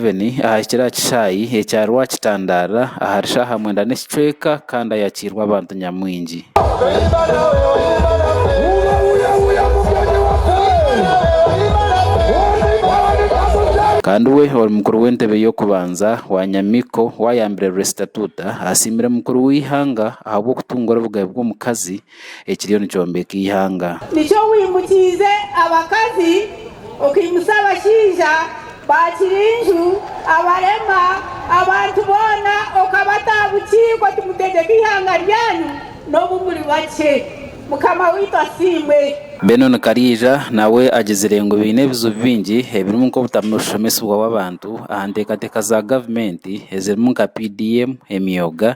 Museveni ahahikire aha kishaayi ekya Rwakitandaara ahari shaaha mwenda n'ekicweka kandi ayakiirwe abantu nyamwingi. Kandi we ori mukuru w'entebe y'okubanza wa Nyamiko wayambire Restituta asiimire mukuru w'eihanga ahabw'okutungura obugabe bw'omukazi ekiriyo nikyombeka eihanga. Nikyo wimukiize abakazi, okaimutsa abashaija ba kirinju, abarema, abantu boona okabata aha bukiiko oti, Mutegyeke eihanga ryanyu, n'obu muri bakye. Mukama waitu asiimwe! Mbwenu nikariija, nawe agizire ngu baine ebizibu bingi ebirimu nk'obutamu bushomesibwa bw'abantu aha nteekateeka za gavumenti ezirimu nka PDM, emyoga,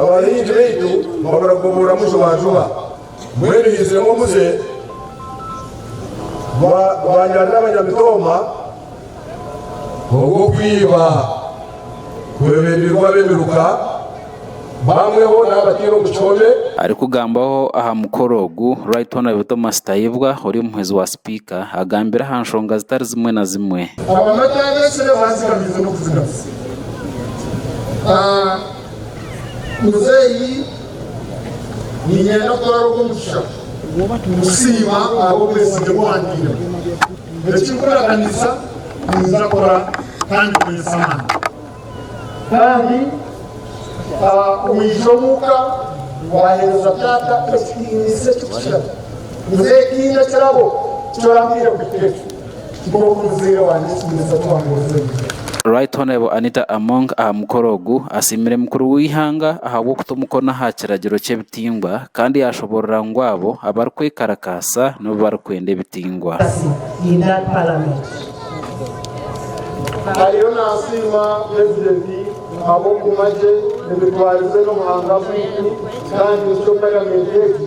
Abahingi baitu babura kugoborwamu jubajuba, mbwenu haiziremu omuze gwanyarira abanyamitooma ogw'okwiba kweberirwa b'emiruka, bamwe bo naabataire omu kihome. Arikugambaho aha mukoro ogu, Right Honourable Thomas Tayebwa ori omuhwezi wa sipiika, agambire aha nshonga zitari zimwe na zimwe. Abamataagi ekiro baazigamize n'okuzigamisa. Muzeeyi niinyenda kutwara ogwo mugisha kusiima ahabw'obwesigye obu wantiiremu. Eki ndikuraganiza ninyija kukora kandi nkukorese amaani. Kandi omwishiki omuka waaheereza taata ekitiinisa ekikuzire. Muzeeyi tihaine kirabo eki oraampiire kuhika ekyo. Nk'oku muzehe wangye Kimuriisa twahurize. Right Honourable Anita Among aha mukoro ogu asiimire mukuru w'eihanga ahabw'okuta omukono aha kiragiro ky'ebitingwa kandi yaashoboorora ngu abo abarikwekarakasa nibo barikwenda ebitingwa. Ariyo naasiima purezidenti ahabw'okuguma gye emitwarize n'obuhangwa bwaitu kandi nikyo parliament egi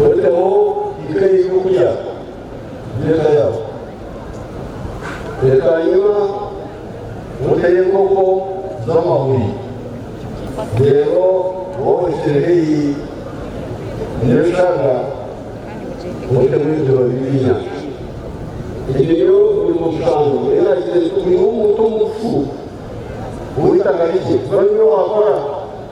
Oreeteho eka ey'eby'okurya by'eka yaawe. Bwanyima oteho enkoko z'amahuri. Reero waaba ohikire haihi n'ebishaaga, oteho ebidiba by'ebyenyanja. Egi niyo mirimo mushanju ei naagire ngu oine omuntu omufu ow'eitaka rikye kuba niwe waakora.